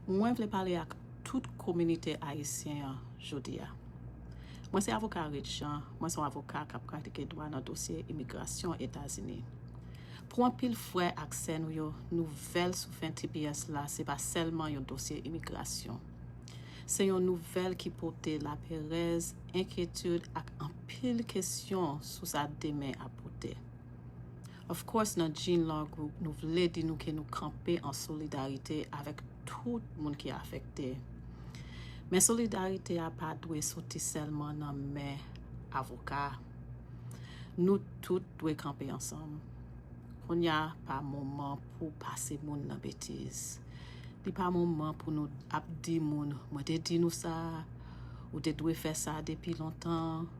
Mwen vle pale ak tout kominite ayisyen an jodi a. Mwen se avoka Rich Jean, mwen se yon avoka k ap pratike dwa nan dosye imigrasyon Etazini. Pou anpil frè ak sè nou yo, nouvèl sou fen tps la se pa sèlman yon dosye imigrasyon. Se yon nouvèl ki pote laperèz, enkyetid ak anpil kesyon sou sa demen ap pote. Of course nan Jean Law Group nou vle di nou ke nou kanpe an solidarite avèk tout moun ki afekte. Men solidarite a pa dwe soti sèlman nan men avoka. Nou tout dwe kanpe ansanm. Kounya pa moman pou pase moun nan betiz. Li pa moman pou nou ap di moun mwen te di nou sa, ou te dwe fè sa depi lontan.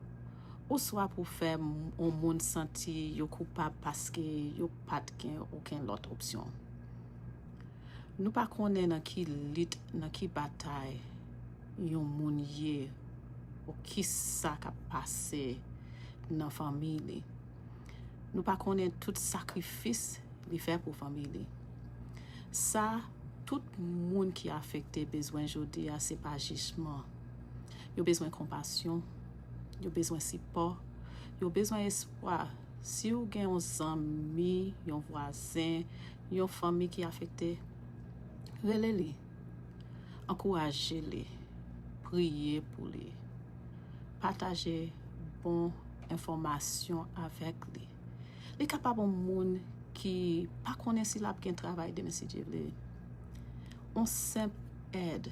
oswa pou fè yon moun santi yo koupab paske yo pa t gen okenn lòt opsyon. Nou pa konnen nan ki lit, nan ki batay yon moun ye ou ki sa k ap pase nan fanmi li. Nou pa konnen tout sakrifis li fè pou fanmi li. Sa tout moun ki afekte bezwen jodi a se pa jijman. Yo bezwen konpasyon, Yo bezwen sipò, yo bezwen espwa. Si ou gen yon zanmi, yon vwazen, yon fanmi ki afekte, rele li, ankouraje li, priye pou li, pataje bon enfòmasyon avèk li. Li kapab yon moun ki pa konnen si l ap gen travay demen si Dye vle. Yon senp èd.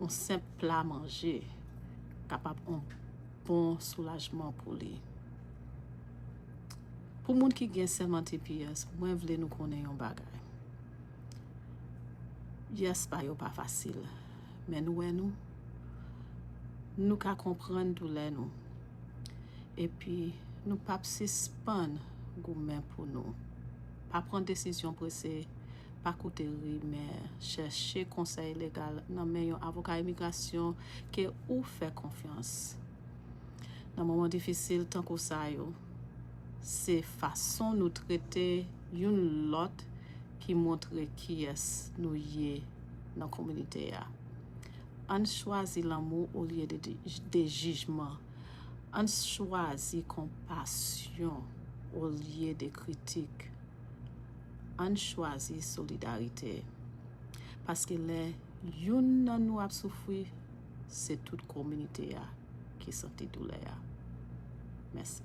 yon senp pla manje kapab yon bon soulajman pou li. Pou moun ki gen sèman tps, mwen vle nou konnen yon bagay. Yes pa yo pa fasil, men nou wè nou, nou ka konprann doulè nou, epi nou pap sispann goumen pou nou. Pa pran desizyon prese. Pa koute rimè, chèche konsèy legal nan men yon avoka imigrasyon ke ou fè konfyans. Nan moman difisil tankou sa yo, se fason nou trete youn lòt ki montre kiyès nou ye nan kominite a. Ann chwazi lanmou olye de jijman, ann chwazi konpasyon olye de kritik. Ann chwazi solidarite. Paske lè youn nan nou ap soufri, se tout kominite a ki santi doulè a. Mèsi.